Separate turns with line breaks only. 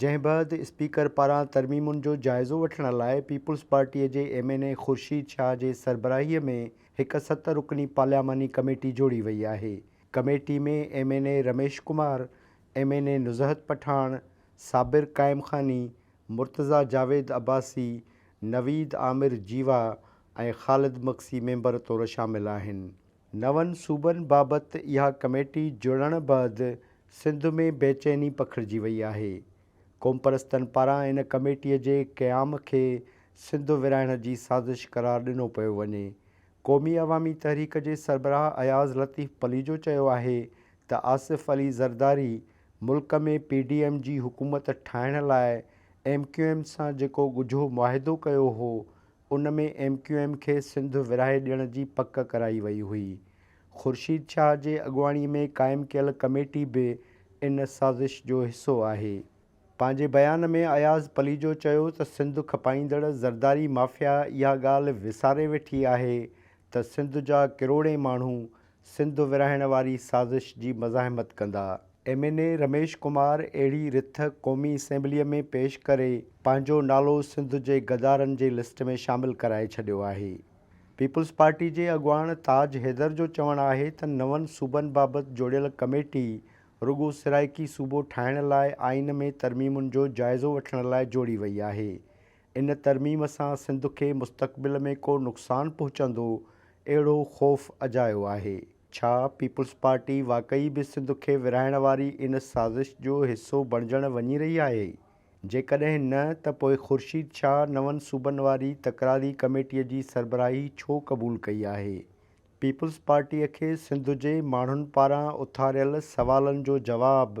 جنهن بعد اسپيڪر پاران ترميمن جو جائزو وٺڻ لاء پيپلز پارٽي جي M N A Khurshid Shah جي سربراهي ۾ هڪ ست رڪني پارلياماني ڪميٽي جوڙي وئي آهي. Committee ۾ M N A Ramesh Kumar, M N A Nuzhat Pathan, Sabir Qaim Khani, Murtaza Javed Abbasi, Naveed Amir Jiwa ۽ Khalid Magsi member طور شامل آهن. نون صوبن بابت اها ڪميٽي جڙڻ بعد سنڌ ۾ بيچيني پکڙجي وئي آهي. قومپرستن پاران ان ڪميٽي جي قيام کي سنڌ ورهائڻ جي سازش قرار ڏنو پيو وڃي. قومي عوامي تحريڪ جي سربراهه اياز لطيف پليجو چيو آهي ته آصف علي زرداري ملڪ ۾ پي ڊي ايم جي حڪومت ٺاهڻ لاء ايم ڪيو ايم سان جيڪو ڳجهو معاهدو ڪيو هو ان ۾ ايم ڪيو ايم کي سنڌ ورهائي ڏيڻ جي پڪ ڪرائي وئي هئي. خورشيد شاهه جي اڳواڻي ۾ قائم ڪيل ڪميٽي به ان سازش جو حصو آهي. پنهنجي بيان ۾ اياز پليجو چيو ته سنڌ کپائيندڙ زرداري مافيا اها ڳالهه وساري ويٺي آهي ته سنڌ جا ڪروڙين ماڻهو سنڌ ورهائڻ واري سازش جي مزاحمت ڪندا M N A Ramesh Kumar اهڙي رٿ قومي اسيمبليء ۾ پيش ڪري پنهنجو نالو سنڌ جي غدارن جي لسٽ ۾ شامل ڪرائي ڇڏيو آهي. پيپلز پارٽي جي اڳواڻ تاج حيدر جو چوڻ آهي ته نون صوبن بابت جوڙيل ڪميٽي رڳو سرائيڪي صوبو ٺاهڻ لاء آئين ۾ ترميمن جو جائزو وٺڻ لاء جوڙي وئي آهي ان ترميم سان سنڌ کي مستقبل ۾ ڪو نقصان پهچندو اهڙو خوف اجايو آهي، ڇا پيپلز پارٽي واقعي به سنڌ کي ورهائڻ واري ان سازش جو حصو بڻجڻ وڃي رهي آهي؟ جيڪڏهن نه ته پوء خورشيد شاهه نون صوبن واري تڪراري ڪميٽيء جي سربراهي ڇو قبول ڪئي آهي؟ پيپلز پارٽيء کي سنڌ جي ماڻهن پاران اٿاريل سوالن جو جواب